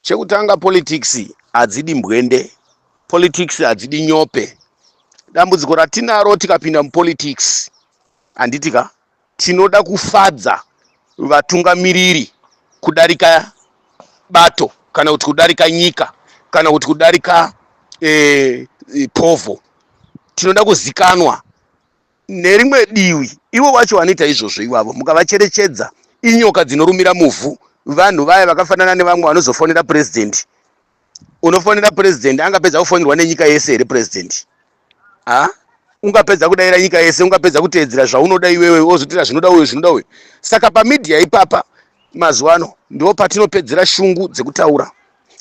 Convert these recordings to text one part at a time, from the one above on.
Chekutanga politics hadzidi mbwende, politics hadzidi nyope. Dambudziko ratinaro tikapinda mupolitics handiti ka tinoda kufadza vatungamiriri kudarika bato kana kuti kudarika nyika kana kuti kudarika eh, eh, povo tinoda kuzikanwa Nerimwe divi, ivo vacho vanoita izvozvo ivavo mukavacherechedza inyoka dzinorumira muvhu. Vanhu vaya vakafanana nevamwe vanozofonera president. Unofonera president angapedza kufonerwa nenyika yese here president? Haa ungapedza kudaira nyika yese, ungapedza kuteedzera zvaunoda iwewe wozotira zvinoda uyu zvinoda uyu. Saka pamedia ipapa mazuva ano ndipo patinopedzera shungu dzekutaura.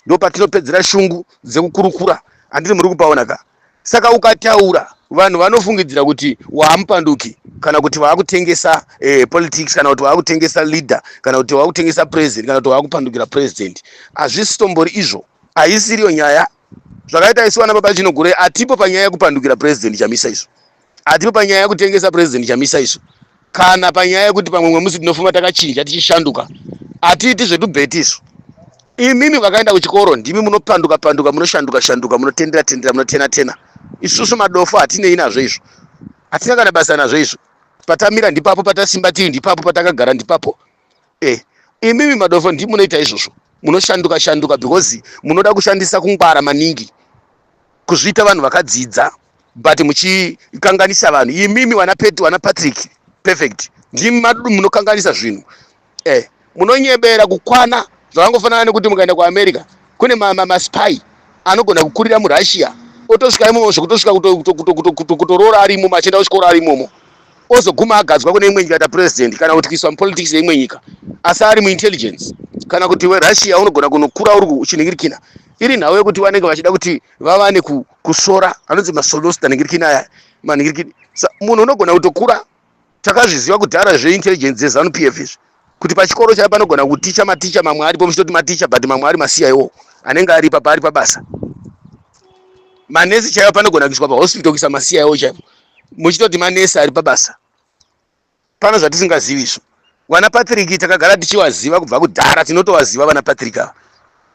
ndopatinopedzera shungu dzekukurukura handiti muri kupaona ka saka ukataura vanhu vanofungidzira kuti waamupanduki kana kuti waakutengesa eh, politics kana kuti waakutengesa leader kana kuti waakutengesa president kana kuti waakupandukira president hazvisitombori izvo haisiriyo nyaya zvakaita isu vana baba chinogurei hatipo panyaya yekupandukira president chamisa izvo Hatipo panyaya yekutengesa President Chamisa isu kana panyaya yekuti pamwe mwe musi tinofuma takachinja tichishanduka. Hatiiti zvedubheti isu. Imimi vakaenda kuchikoro ndimi munopanduka panduka munoshanduka shanduka munotendera tendera munotena tena. Isusu madofo hatinei nazvo izvo. Hatina kana basa nazvo izvo. Patamira ndipapo patasimba tiri ndipapo patakagara ndipapo. eh imimi madofo ndimi munoita izvozvo munoshanduka shanduka because munoda kushandisa kungwara maningi kuzviita vanhu vakadzidza but muchikanganisa vanhu imimi wana pet wana patrick perfect ndimi madudu munokanganisa zvinhu eh munonyebera kukwana zvakangofanana nekuti mukaenda kuamerica kune maspy ma, ma anogona kukurira murussia otosvika imomo zvekutosvika kutoroora arimomo achienda kuchikoro arimomo ozoguma agadzwa kune imwe nyika ta president kana kuti kuiswa mupolitics yeimwe nyika asi ari muintelligence kana kuti werussia unogona kunokura uri uchiningirikina iri nhau yekuti vanenge vachida kuti vavane kusvora anonzi masolosta ningirikina aya maningirikini munhu unogona kutokura takazviziva kudhara zveintelligence dzezanup f izvi kuti pachikoro chaipo panogona kuticha maticha mamwe aripo muchitoti maticha but mamwe ari masiya iwo anenge aripa paari pabasa manesi chaiwo panogona kuiswa pahospital kuisa masiya iwo chaipo muchitoti manesi ari pabasa pano zvatisingazivi izvo vana patrick takagara tichivaziva kubva kudhara tinotovaziva vana patrick ava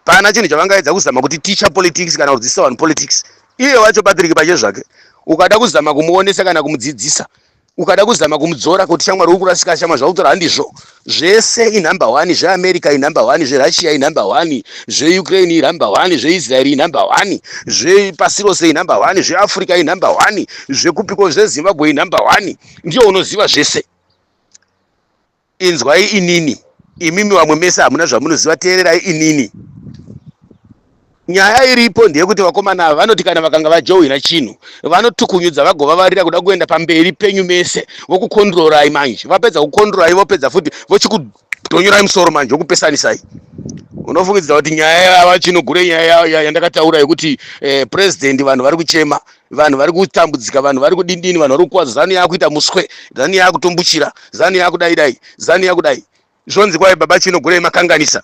pana chinhu chavangaedza kuzama kuti teacher politics kana kudzidzisa vanhu politics iye wacho patrick pache zvake ukada kuzama kumuonesa kana kumudzidzisa ukada kuzama kumudzora kuti shamwari uri kurasika shamwa zvautora handizvo zvese inumber one zveamerica inumber one zverussia inumber one zveukraine inumber one zveisraeri inumber one zvepasi rose inumber one zveafrica inumber one zvekupiko zvezimbabwe inumber one ndiyo unoziva zvese inzwai inini imimi vamwe mese hamuna zvamunoziva teererai inini nyaya iripo ndeyekuti vakomana ava vanoti kana vakanga vajohwina chinhu vanotukunyudza vagovavarira kuda kuenda pamberi penyu mese vokukondrorai manje vapedza kukondrorai vopedza futi vochikudhonyorai musoro manje vokupesanisai unofungidzira kuti nyaya yava chinogure nyaya yandakataura yekuti eh, president vanhu vari kuchema vanhu vari kutambudzika vanhu vari kudindini vanhu vari kukwadza zanu yakuita muswe zanu yakutombuchira zanu yakudai dai zanu yakudai zvonzi kwai baba chino gurei makanganisa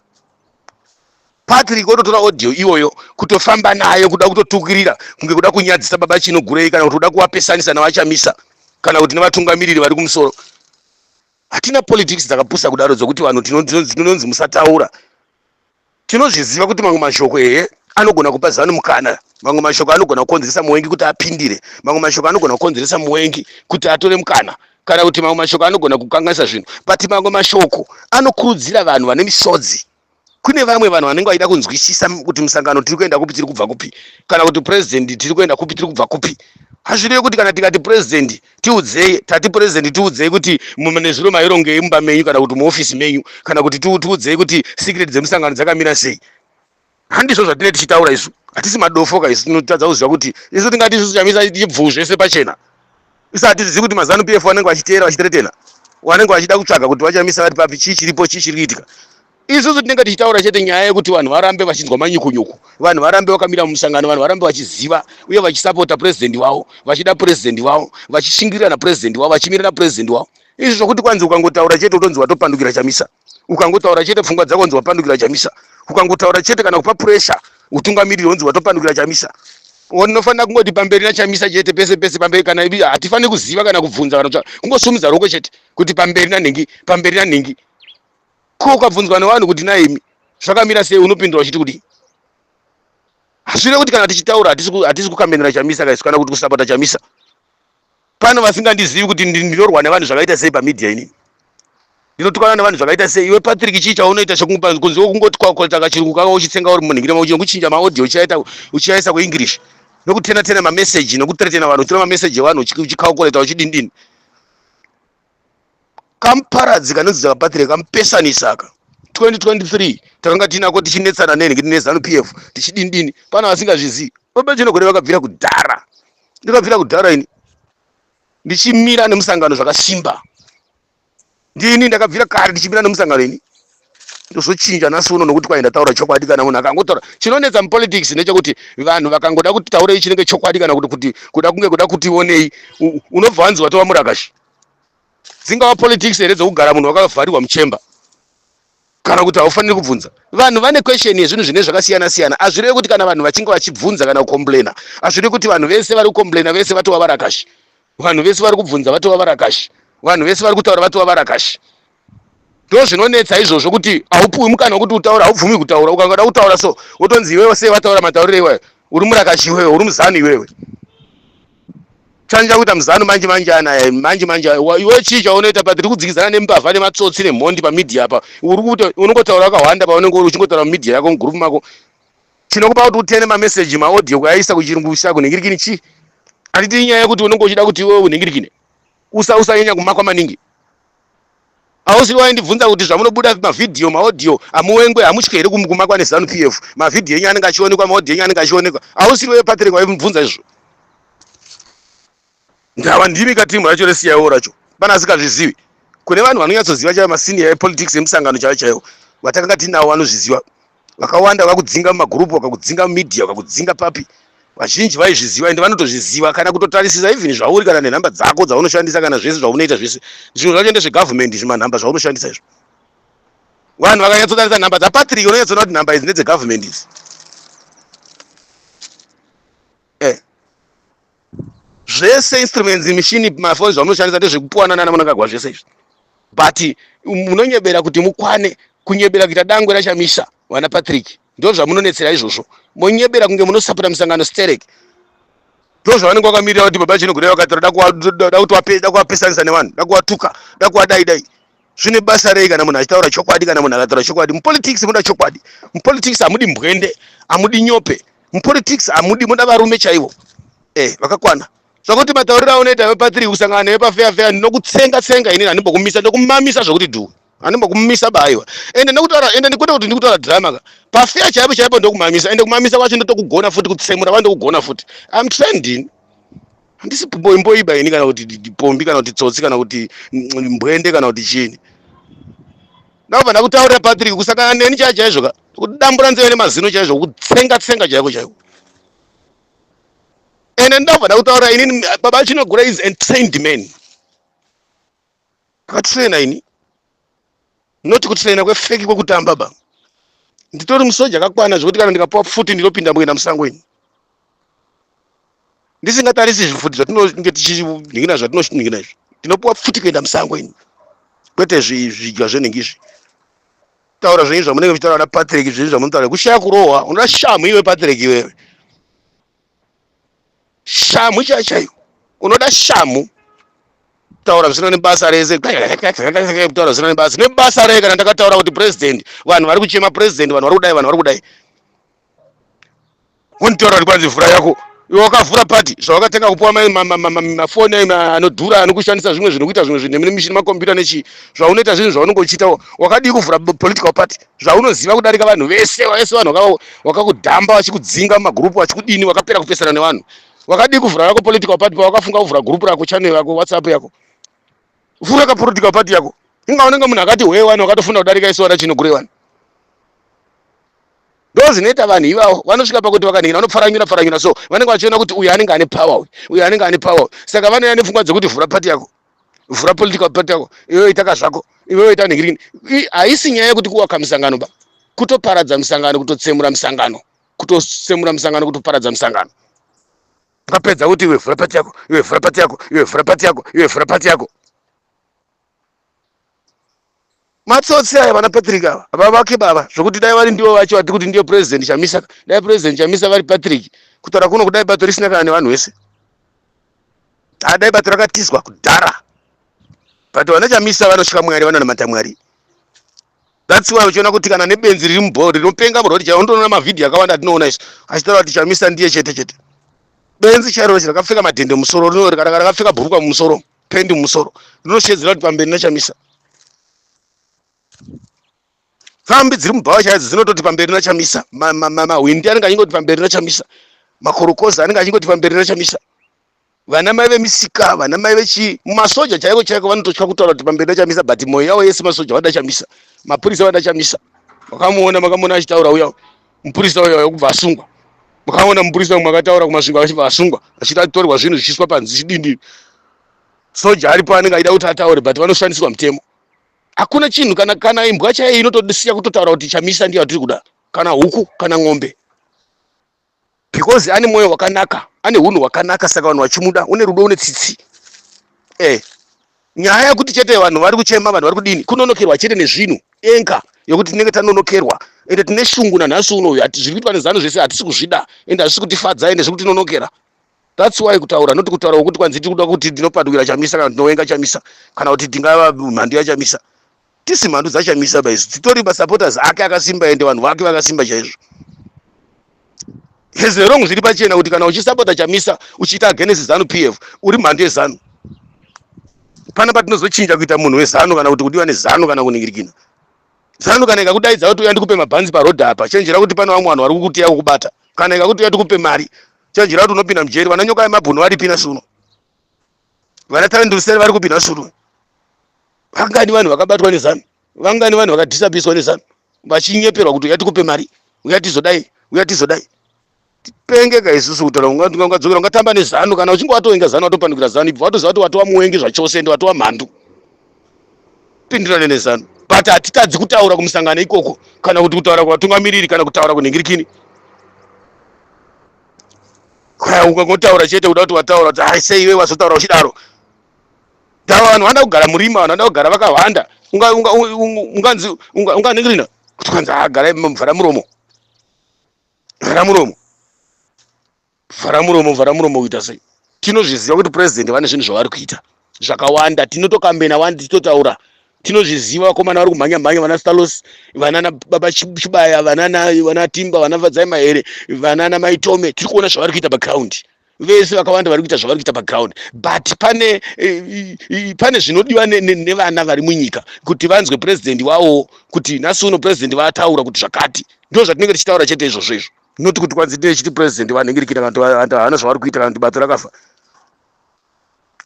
patrick ototora audio iyoyo kutofamba nayo kuda kutotukirira kunge kuda kunyadzisa baba chino gurei kana kuti kuda kuvapesanisa navachamisa kana kuti nevatungamiriri vari kumusoro hatina politics dzakapusa kudaro dzokuti vanhu tinonzi musataura tinozviziva kuti mamwe mashoko ehe anogona kupa zanu mukana mamwe mashoko anogona kukonzeresa muwengi kuti apindire mamwe mashoko anogona kukonzeresa muwengi kuti atore mukana kana kuti mamwe mashoko anogona kukanganisa zvinhu but mamwe mashoko anokurudzira vanhu vane misodzi kune vamwe vanhu vanenge vachida kunzwisisa kuti musangano tiri kuenda kupi tiri kubva kupi kana kuti purezidendi tiri kuenda kupi tiri kubva kupi hazvirevi kuti kana tikati purezidendi tiudzei tati president tiudzei kuti nezuro mairongei mumba menyu kana kuti muofisi menyu kana kuti tiudzei kuti secret dzemusangano dzakamira sei handizvo zvatine tichitaura isu hatisi madofoka isu tinotadza kuziva kuti isu tingati isu chamisa chibvuu zvese pachena isu hatizivi kuti mazanu pf wanenge vachiteera vachiteretena wanenge vachida kutsvaga kuti vachamisa vari papi chii chiripo chii chiri kuitika Isusu tinenge tichitaura chete nyaya yekuti vanhu varambe vachinzwa manyukunyuku, vanhu varambe vakamira mumusangano, vanhu varambe vachiziva uye vachisapota purezidhendi wavo, vachida purezidhendi wavo, vachishingirira napurezidhendi wavo, vachimira napurezidhendi wavo. Izvi zvokuti kwanzi ukangotaura chete utonzi watopandukira Chamisa, ukangotaura chete pfungwa dzako unzi wapandukira Chamisa, ukangotaura chete kana kupa puresha utungamiriri unzi watopandukira Chamisa. Unofanira kungoti pamberi naChamisa chete, pese pese pamberi. Kana hatifaniri kuziva kana kubvunza kana kungosumudza ruoko chete kuti pamberi nanhingi, pamberi nanhingi. ko ukabvunzwa nevanhu kuti naimi zvakamira sei unopindura uchiti kudii hazvire kuti kana tichitaura hatisi kukamenera chamisa kaisu kana kuti kusapota chamisa pane vasingandizivi kuti ndinorwa nevanhu zvakaita sei pamedia inini ndinotukana nevanhu zvakaita sei iwe patrick chii chaunoita kunzi wekungoti kwakotaka chirungu kaka uchitsenga uri munhu ngirema uchinge kuchinja maaudio uchiaita uchiaisa kuenglish nokutena tena mameseji nokutretena vanhu uchitora mameseji evanhu uchikaukoreta uchidindini kamuparadzi kanonzi dzakapatirei kamupesanisa aka 2023 takanga tiinako tichinetsana nenhingi nezanu p f tichidini dini pana vasingazvizivi babachinogore vakabvira kudhara ndikabvira kudhara ini ndichimira nemusangano zvakasimba ndini ndakabvira kare ndichimira nemusangano ini ndozochinja nhasi uno nokuti kwaenda taura chokwadi kana munhu akangotaura chinonetsa mupolitics ndechekuti vanhu vakangoda kuti taurei chinenge chokwadi kana kuti kuti kuda kunge kuda kuti onei unobva wanzi watova murakashi dzingava politics here dzokugara munhu wakavharirwa muchemba kana kuti haufaniri kubvunza vanhu vane question yezvinhu zvine zvakasiyana siyana azvirevi kuti kana vanhu vachinge vachibvunza kana kucomplaina azvirevi kuti vanhu vese vari kucomplaina vese vatova varakashi vanhu vese vari kubvunza vatova varakashi vanhu vese vari kutaura vatova varakashi ndozvinonetsa izvozvo kuti haupuwi mukana wekuti utaura haubvumi kutaura ukangada kutaura so wotonzi iwewe sei vataura mataurire iwayo uri murakashi iwewe uri muzanu iwewe chanija kuita muzanu manje manje anaya manje manje iwe chii chaunoita pa tiri kudzikizana nembavha nematsotsi nemhondi pamedia apa uri kuti unongotaura wakahwanda paunenge uri uchingotaura mumedia yako mugroup mako chinokupa kuti utene mameseji maaudio kuaisa kuchirungu kuisa kunhingirikini chii handiti inyaya yekuti unenge uchida kuti iwewe unhingirikine usanyanya kumakwa maningi Ausiri waindibvunza kuti zvamunobuda mavhidhiyo, maodhiyo hamuwengwe, hamutye here kumakwa neZanu PF? Mavhidhiyo enyu anenge achionekwa, maodhiyo enyu anenge achionekwa. Ausiri wewe Patrick waimubvunza izvo? Ndava ndimi ka team racho reCIO racho pana asikazvizivi. Kune vanhu vanonyatsoziva chaivo masenior epolitics emusangano chaivo chaivo vatakanga tinawo vanozviziva. vakawanda vakudzinga mumagroup vakakudzinga mumedia vakakudzinga papi vazhinji vaizviziva ende vanotozviziva kana kutotarisisa even zvauri kana nenhamba dzako dzaunoshandisa kana zvese zvaunoita zvese zvinhu zvacho ende zvegovernment izvi manhamba zvaunoshandisa izvo vanhu vakanyatsotarisa nhamba dzapatrick unonyatsoona kuti nhamba idzi ndedzegovernment idzi zvese instruments mishini mafoni zvamunoshandisa ndezvekupuwana nana munangagwa zvese izvi but munonyebera kuti mukwane kunyebera kuita dangwe rachamisa vana patrick ndo zvamunonetsera izvozvo monyebera kunge munosapota misangano sterek ndo zvavanenge vakamirira kuti baba chinogona vakatora da kuvapesanisa nevanhu da kuvatuka da kuvadai dai zvine basa rei kana munhu achitaura chokwadi kana munhu akataura chokwadi mupolitics muda chokwadi mupolitics hamudi mbwende hamudi nyope mupolitics hamudi muda varume chaivo eh vakakwana zvakuti matauriro aunoita iwe patiri kusangana newe pafeya feya ndinokutsenga tsenga inini handimbokumisa ndokumamisa zvokuti dhuwe handimbokumisa baiwa ende ndokutaura ende ndikwete kuti ndikutaura drama ka pafeya chaipo chaipo ndokumamisa ende kumamisa kwacho ndotokugona futi kutsemura wa ndokugona futi am trending handisi mboimboiba ini kana kuti pombi kana kuti tsotsi kana kuti mbwende kana kuti chini ndakubva ndakutaurira patrick kusangana neni chaya chaizvo ka kudambura nzeve nemazino chaizvo kutsenga tsenga chaiko chaiko ende ndakubva ndakutaurira inini baba chinogura is entrained man ndakatraina ini not kutraina kwefeki kwekutamba ba nditori musoja akakwana zvekuti kana ndikapuwa pfuti ndinopinda muenda musango ini ndisingatarisi zvifuti zvatinenge tichiningina zvatinoningina izvi tinopuwa pfuti kuenda musango ini kwete zvidya zvenenge izvi taura zvenyu zvamunenge muchitaura na patrick zvenyu zvamunotaura kushaya kurohwa unoda shamu iwe patrick iwewe Shamhu chaiyo chaiyo. Unoda shamhu. Taura zvisina nebasa rese. Taura zvisina nebasa. Nebasa rei kana ndakataura kuti president vanhu vari kuchema president vanhu vari kudai vanhu vari kudai. Wontaura kuti kwanzi vhura yako. Iwe wakavhura party zvawakatenga kupuwa mafoni anodhura anokushandisa zvimwe zvinhu kuita zvimwe zvinhu nemishini makombiyuta nechii zvaunoita zvinhu zvaunenge uchiita wakadii kuvhura political party zvaunoziva kudarika vanhu vese vese vanhu wakakudhamba vachikudzinga mumagurupu vachikudini wakapera kupesana nevanhu wakadii kuvhura rako political party pawakafunga kuvhura gurupu rako channel yako whatsapp yako vhura ka political party yako inga unenge munhu akati hwee wani wakatofunda kudarika isu vana chinogure wani ndo zvinoita vanhu ivavo vanosvika pakuti vakanhina vanopfaranyura pfaranyura so vanenge vachiona kuti uyu anenge ane power uyu anenge ane power saka vanouya nepfungwa dzekuti vhura party yako vhura political party yako iwewe itaka zvako iwewe ita negirini haisi nyaya yekuti kuwaka misangano ba kutoparadza misangano kutotsemura misangano kutotsemura misangano kutoparadza misangano ukapedza kuti iwe vhura pati yako iwe vhura pati yako iwe vhura pati yako iwe vhura pati yako Matsotsi aya vana Patrick ava vavake baba zvokuti dai vari ndivo vacho vati kuti ndiyo president Chamisa dai president Chamisa vari Patrick kutaura kuno kudai bato risina kana nevanhu vese ah, dai bato rakatizwa kudhara but vana Chamisa vanotya Mwari vanonamata Mwari that's why uchiona kuti kana nebenzi riri mubhori rinopenga murori chaiwo ndoona mavhidhiyo akawanda atinoona isu achitaura kuti Chamisa ndiye chete chete benzi chairo rakapfeka madhende musoro rino rakapfeka bhurukwa mumusoro pendi musoro rinoshedzera kuti pamberi nachamisa pfambi dziri mubhawa chaidzo dzinototi pamberi nachamisa mahwindi anenge achingoti pamberi nachamisa makorokoza anenge achingoti pamberi nachamisa vana mai vemisika vana mai vechi masoja chaiko chaiko vanototya kutaura kuti pamberi nachamisa but mwoyo yavo yese masoja vada chamisa mapurisa vada chamisa makamuona makamuona achitaura uya mupurisa uyo wekubva asungwa mukaona mupurisa umwe akataura kumasvingo achibva asungwa achiti atorwa zvinhu zvichiiswa panzi chidindi soja aripo anenge aida kuti ataure but vanoshandiswa mutemo hakuna chinhu kana kana imbwa chaiyo inotodisiya kutotaura kuti chamisa ndiyo atiri kuda kana huku kana ng'ombe because ane mwoyo wakanaka ane hunhu hwakanaka saka vanhu vachimuda une rudo une tsitsi eh nyaya yekuti chete vanhu vari kuchema vanhu vari kudini kunonokerwa chete nezvinhu enka yokuti tinenge tanonokerwa ende tine shungu nanhasi uno uyu zviri kuitwa nezanu zvese hatisi kuzvida ende hazvisi kutifadza ende zviri kutinonokera that's why kutaura noti kutaura wokuti kwanzi tiri kuda kuti ndinopatukira chamisa kana ndinowenga chamisa kana kuti ndingava mhandu yachamisa tisi mhandu dzashamisa ba izvi dzitori masupporters ake akasimba ende vanhu vake vakasimba chaizvo has the wrong zviri pachena kuti kana uchisupporta chamisa uchiita against zanu p f uri mhandu yezanu pana patinozochinja kuita munhu wezanu kana kuti kudiwa nezanu kana kuningirikina zanu kana ikakudaidza kuti uya ndikupe mabhanzi parodhi apa chenjera kuti pane vamwe vanhu vari kukutiya kukubata kana ikakuti uya tikupe mari chenjera kuti unopinda mujeri vananyoka yemabhunu varipina suno vana talent usere vari kupi nhasi uno vangani vanhu vakabatwa nezanu vangani vanhu vakadhisapiswa nezanu vachinyeperwa kuti uya tikupe mari uya tizodai uya tizodai tipengeka isusu kutaura ungadzokera ungatamba nezanu kana uchinge watoenga zanu watopandukira zanu ibva watoziva kuti watova muwengi zvachose ende watova mhandu pindirane nezanu but hatitadzi kutaura kumusangano ikoko kana kuti kutaura kuvatungamiriri kana kutaura kunhingirikini ukangotaura chete kuda kuti wataura kuti ai sei iwe wazotaura uchidaro dava vanhu vanoda kugara murima vanhu vanoda kugara vakahwanda unganzi unganingirina kuti kwanzi agara mvhara muromo vhara muromo vhara muromo vhara muromo kuita sei tinozviziva kuti purezidendi vane zvinhu zvavari kuita zvakawanda tinotokambena wani tichitotaura tinozviziva vakomana vari kumhanya mhanya vana stalos vanana baba chibaya vanana vana timba vana vadzai mahere vanana maitome tiri kuona zvavari kuita background vese vakawanda vari kuita zvavari kuita background but pane eh, eh, pane zvinodiwa nevana vari munyika kuti vanzwe president wawo kuti nhasi uno president vataura kuti zvakati ndo zvatinenge tichitaura chete izvozvo izvo not kuti kwanzi tine chiti president vanenge rikita vantu havana zvavari kuita kana kuti bato rakafa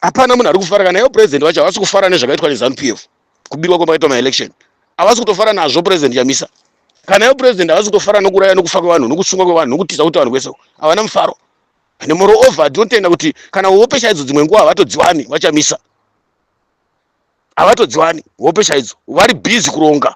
hapana munhu ari kufara kana ivo president vacho havasi kufara nezvakaitwa nezanu p f kubirwa kwemakaitwa maelection havasi kutofara nazvo president chamisa kana ivo president havasi kutofara nokuraya nokufa kwevanhu nokusungwa kwevanhu nokutiza kuti vanhu kwese havana mufaro and moreover tinotenda kuti kana hope chaidzo dzimwe nguva havatodziwani vachamisa havatodziwani hope chaidzo vari busy kuronga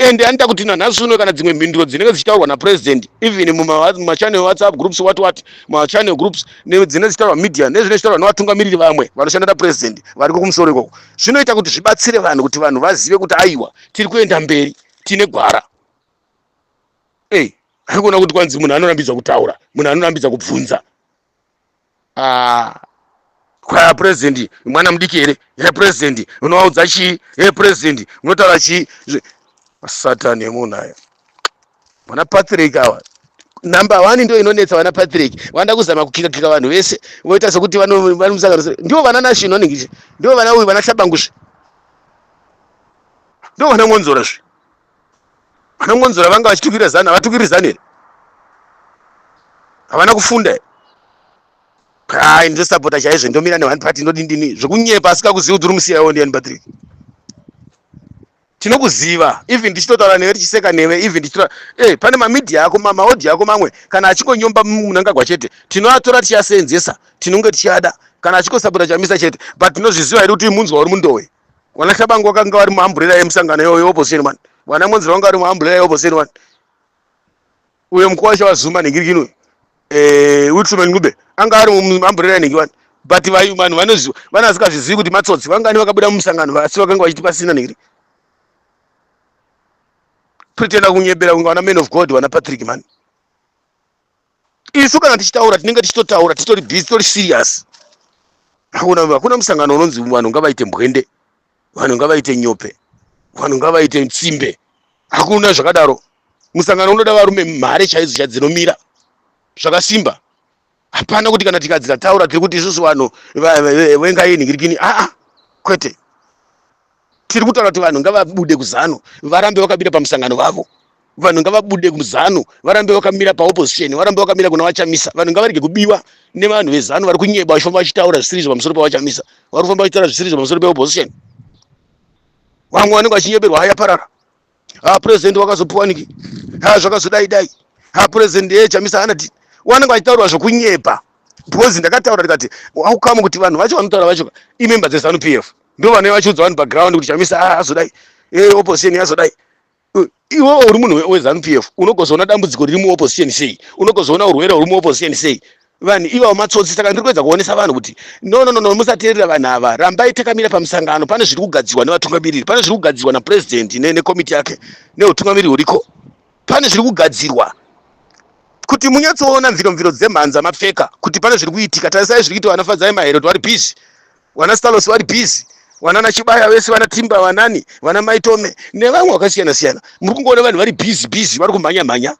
and anoita kuti nanhasi uno kana dzimwe mhinduro dzinenge dzichitaurwa napresident even mumachannel whatsapp groups what what machannel groups dzinenge dzichitaurwa media nezvine zvitaurwa nevatungamiriri vamwe vanoshanda napresident variko kumusoro ikoko zvinoita kuti zvibatsire vanhu kuti vanhu vazive kuti aiwa tiri kuenda mberi tine gwara ei hey, arikuona kuti kwanzi munhu anorambidzwa kutaura munhu anorambidzwa kubvunza ah kwaya president mwana mudiki here he president unovaudza chii he president unotaura chii satani emunhu aya vana patrick awa number one ndo inonetsa vana patrick vanoda kuzama kukikakika vanhu vese voita sekuti vari musangano ndivo vana nashino anenge ndivo vana uyu vana hlabangusve ndivo vana ngonzora zve vanongonzora vanga vachitukira zanu havatukiri zanu here havana kufunda here kai ndosapota chaizvo ndomira ne one party ndodini dini zvekunyepa asika kuziva kuti uri musiyaiwo ndiani patrick tinokuziva even ndichitotaura newe tichiseka newe even ndichitotaura eh pane mamedia ako mamaodhi ako mamwe kana achingonyomba munangagwa chete tinoatora tichiaseenzesa tinonge tichiada kana achingosapota chamisa chete but tinozviziva here kuti munzwa uri mundowe Wana Shabangu wakanga wari muamburera yemusangano yeoyo opposition man. Wana Monzira wanga wari muamburera yeopposition man. Uyo mkuu wacho wazuma ningirikini uyo. Eh, Wilson Ngube anga ari muamburera ningirikini wani. But vayu man vanoziva vana vasikazvizivi kuti matsotsi vangani vakabuda mumusangano asi vakanga vachiti pasina ningiri. Pretenda kunyebera kunga wana man of God wana Patrick man. isu kana tichitaura tinenge tichitotaura titori busy tori serious hakuna hakuna musangano unonzi vanhu ngavaite mbwende vanhu ngavaite nyope vanhu ngavaite tsimbe hakuna zvakadaro musangano unoda varume mhare chaidzo chadzinomira zvakasimba hapana kuti kana tikadzi tataura tiri kuti isusu vanhu vengaini ngirikini aa kwete tiri kutaura kuti vanhu ngavabude kuzanu varambe vakamira pamusangano vavo vanhu ngavabude kuzanu varambe vakamira paopposition varambe vakamira kuna vachamisa vanhu ngavarege kubiwa nevanhu vezanu vari kunyeba vachifamba vachitaura zvisirizo pamusoro pavachamisa vari kufamba vachitaura zvisirizo pamusoro peopposition vamwe vanenge vachinyeberwa haya parara ha president wakazopiwa niki ha zvakazodai dai ha president ye chamisa ana ti wanenge achitaura zvokunyepa because ndakataura ndikati aukamu kuti vanhu vacho vanotaura vacho i member dze zanu pf ndo vane vachiudza vanhu pa ground kuti chamisa ha azodai e opposition yazodai iwe uri munhu we zanu pf unogozoona dambudziko riri mu opposition sei unogozoona urwere uri mu opposition sei vanhu ivavo matsotsi saka ndiri kuedza kuonesa vanhu kuti no no no no musateerera vanhu ava rambai takamira pamusangano pane zviri kugadzirwa nevatungamiriri pane zviri kugadzirwa napurezidendi nekomiti yake neutungamiriri huriko pane zviri kugadzirwa kuti munyatsoona mviro mviro dzemhanza mapfeka kuti pane zviri kuitika tarisai zviri kuita vana fadzai maherod vari busy vana stalos vari busy vana nachibaya vese vana timba vanani vana maitome nevamwe vakasiyana siyana muri kungoona vanhu vari busy busy vari kumhanya mhanya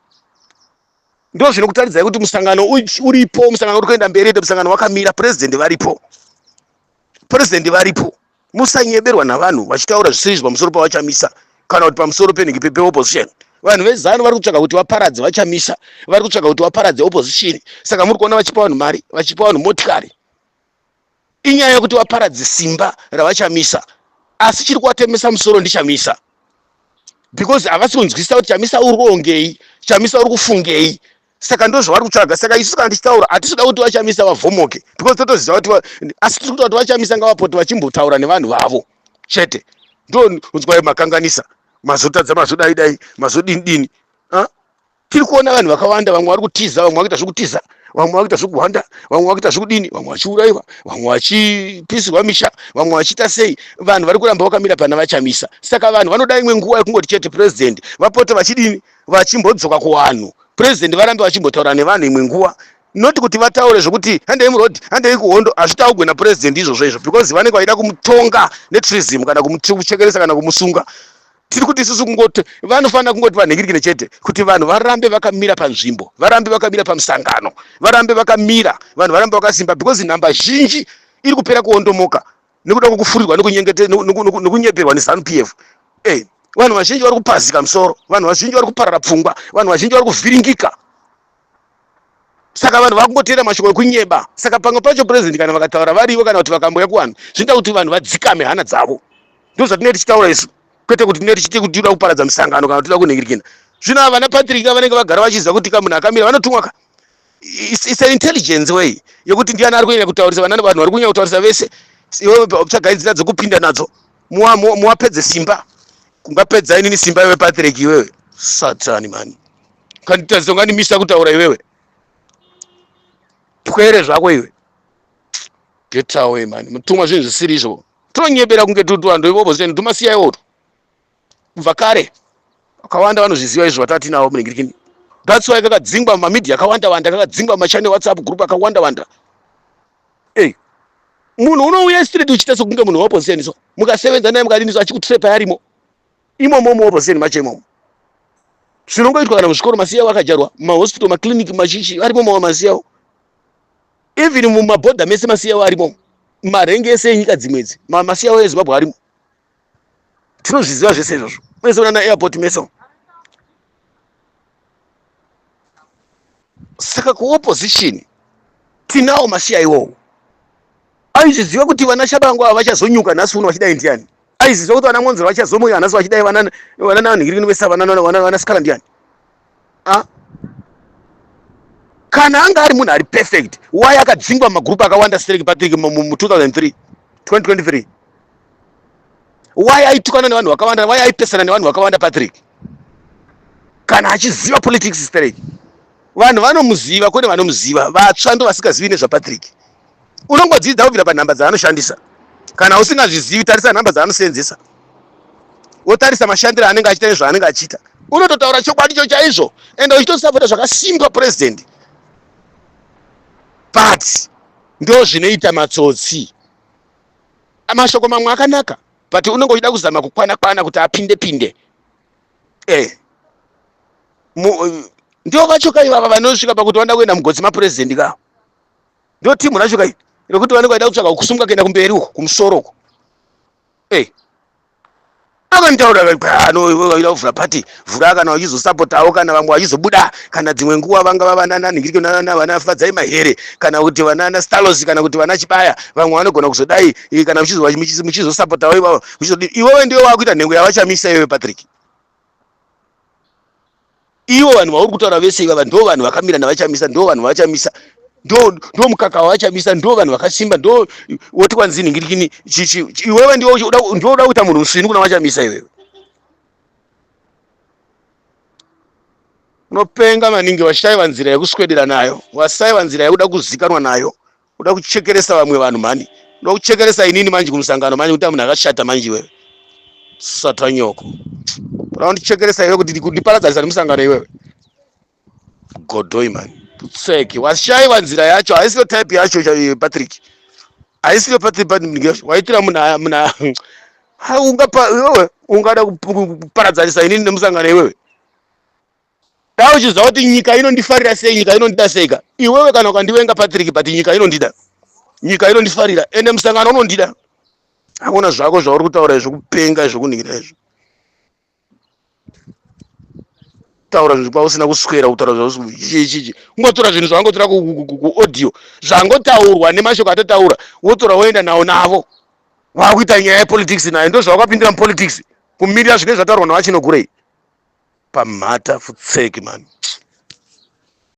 ndo zvinokutaridzai kuti musangano uripo musangano uri kuenda mberi ende musangano wakamira president varipo president varipo musanyeberwa navanhu vachitaura zvisirizvo pamusoro pavachamisa kana kuti pamusoro penhingi peopposition vanhu vezanu vari kutsvaga kuti vaparadze vachamisa vari kutsvaga kuti vaparadze opposition saka muri kuona vachipa vanhu mari vachipa vanhu motikari inyaya yekuti vaparadze simba ravachamisa asi chiri kuvatemesa musoro ndichamisa because havasi kunzwisisa kuti chamisa uri kuongei chamisa uri kufungei saka ndo zvavari kutsvaga saka isu kana tichitaura hatisi kuda kuti vachamisa vavhomoke because totoziva kuti asi tiri kuda kuti vachamisa ngavapote vachimbotaura nevanhu vavo chete ndo unzwai makanganisa mazotadza mazodai dai mazodini dini tiri kuona vanhu vakawanda vamwe vari kutiza vamwe vakuita zvekutiza vamwe vakuita zvekuhwanda vamwe vakuita zvekudini vamwe vachiurayiwa vamwe vachipisirwa misha vamwe vachiita sei vanhu vari kuramba vakamira pana vachamisa saka vanhu vanoda imwe nguva yekungoti chete purezidendi vapote vachidini vachimbodzoka kuvanhu purezidendi varambe vachimbotaura nevanhu imwe nguva not kuti vataure zvekuti handei muroad handei kuhondo hazvitaugwe napurezidendi izvozvo izvo because vanenge vachida kumutonga netrism kana kumuchekeresa kana kumusunga tiri kuti isusu kungoti vanofanira kungoti vanhingirikire chete kuti vanhu varambe vakamira panzvimbo varambe vakamira pamusangano varambe vakamira vanhu varambe vakasimba because nhamba zhinji iri kupera kuondomoka nekuda kwekufurirwa nekunyeperwa nezanu p f e vanhu vazhinji vari kupazika musoro vanhu vazhinji vari kuparara pfungwa vanhu vazhinji vari kuvhiringika saka vanhu vakungoteera mashoko ekunyeba saka pamwe pacho president kana vakataura varivo kana kuti vakambouya kuvanhu zvinoita kuti vanhu vadzikame hana dzavo ndo zvatinee tichitaura isu kwete kuti tinee tichiti kuti tinoda kuparadza misangano kana tinoda kunhingirikina zvino ava vana patrick vanenge vagara vachiziva kuti ka munhu akamira vanotumwa ka it's an intelligence way yekuti ndiani ari kunyanya kutaurisa vanani vanhu vari kunyanya kutaurisa vese iwe tsvagai nzira dzekupinda nadzo muwapedze simba kungapedza inini simba iwe patrick iwewe satani mani ukanditadzisa ungandimisa kutaura iwewe pwere zvako iwe get away man mutumwa zvinhu zvisiri izvo tonyebera kunge tutu vanhu ivovo zvinhu tumasiyai oto kubva kare vakawanda vanozviziva izvo vatatinavo muningirikini that's why kakadzingwa mumamedia akawanda wanda kakadzingwa mumachane whatsapp group akawanda wanda ey munhu unouya street uchiita sokunge munhu weopposition so mukasevenza naye mukadini so achikutrepayarimo imomo mu opposition macho imomo zvinongoitwa kana muzvikoro masiyawo akajarwa mumahospital maclinic machichi arimo mawa masiyawo even mumabhodha mese masiyawo arimo marengi ese enyika dzimwedzi masiyawo ezimbabwe arimo tinozviziva zvese izvozvo mese unana airport mese saka kuopposition tinawo masiya iwowo aizviziva kuti vana shabangu ava vachazonyuka nhasi uno vachidai ndiani aiziva kuti vana mwonzero vachazomuka nhasi vachidai vana vananhingirikini vese vanascara ndiani ah? kana anga ari munhu ari perfect why akadzingwa mumagrupu akawanda stereki patrick mu 2003 2023 why aitukana nevanhu vakawanda why aipesana nevanhu vakawanda patrick kana achiziva politics straight vanhu vanomuziva kwete vanomuziva vatsva ndo vasingazivi nezvapatrick unongodzidza kubvira panhamba dzaanoshandisa kana usingazvizivi tarisa nhamba dzaanoseenzesa wotarisa mashandiro anenge achita nezvaanenge achiita unototaura chokwadi cho chaizvo and uchitosapota zvakasimba president but ndo zvinoita matsotsi mashoko mamwe akanaka but unenge uchida kuzama kukwana kwana kuti apinde pinde eh ndivo vacho kai vava vanosvika pakuti vanoda kuenda mugodzi mapurezidendi ka ndo timu racho kai rekuti vanenge vaida kutsvaga kusumuka kuenda kumberi uko kumusoro uko ei akanitaura anoida kuvhura pati vhura kana vachizosapotawo kana vamwe vachizobuda kana dzimwe nguva vanga vavanananhingiriko navana fadzai mahere kana kuti vanana stalos kana kuti vana chibaya vamwe vanogona kuzodai eh, kana muchizosapotawo ivavo muchizodii iwewe ndiwe wakuita nhengo yavachamisa iwewe patrick ivo vanhu vauri kutaura vese ivava ndo vanhu vakamira navachamisa ndo vanhu vavachamisa ndo ndo mukaka wavachamisa ndo vanhu vakasimba ndo woti kwanzi nhingirikini chichi iwewe ndiwe uchi- uda- ndiwe uda kuita munhu musvinu kuna vachamisa iwewe unopenga maningi vashaiva nzira yekuswedera nayo wasaiva nzira yekuda kuzikanwa nayo Unoda kuchekeresa vamwe vanhu mhani. Unoda kuchekeresa inini manje kumusangano manje kuti munhu akashata manje iwewe. Satwa nyoko. Unoda kundichekeresa iwe kuti ndiparadzanisa nemusangano iwewe. Godoi mhani. Putseki. Washaiwa nzira yacho. Haisiyo type yacho eh, Patrick. Haisiyo Patrick Patrick. Waitira muna muna ungapa iwewe ungada kuparadzanisa inini nemusangano iwewe. Dai uchiziva kuti nyika inondifarira sei, nyika inondida seika. Iwewe kana ukandivenga Patrick but nyika inondida. Nyika inondifarira ende musangano unondida. Hakuna zvako zvauri kutaura izvo kupenga izvo kunhingira izvo. Taura zvinhu kwausina kuswera kutaura zvausichichichi. Ungotora zvinhu zvawangotora kuaudio zvangotaurwa nemashoko atotaura wotora woenda nawo navo. Wakuita nyaya yepolitics nayo ndozvawakapindira mupolitics. kumirira zvinenge zvataurwa navachinogurei pamhata futseki mani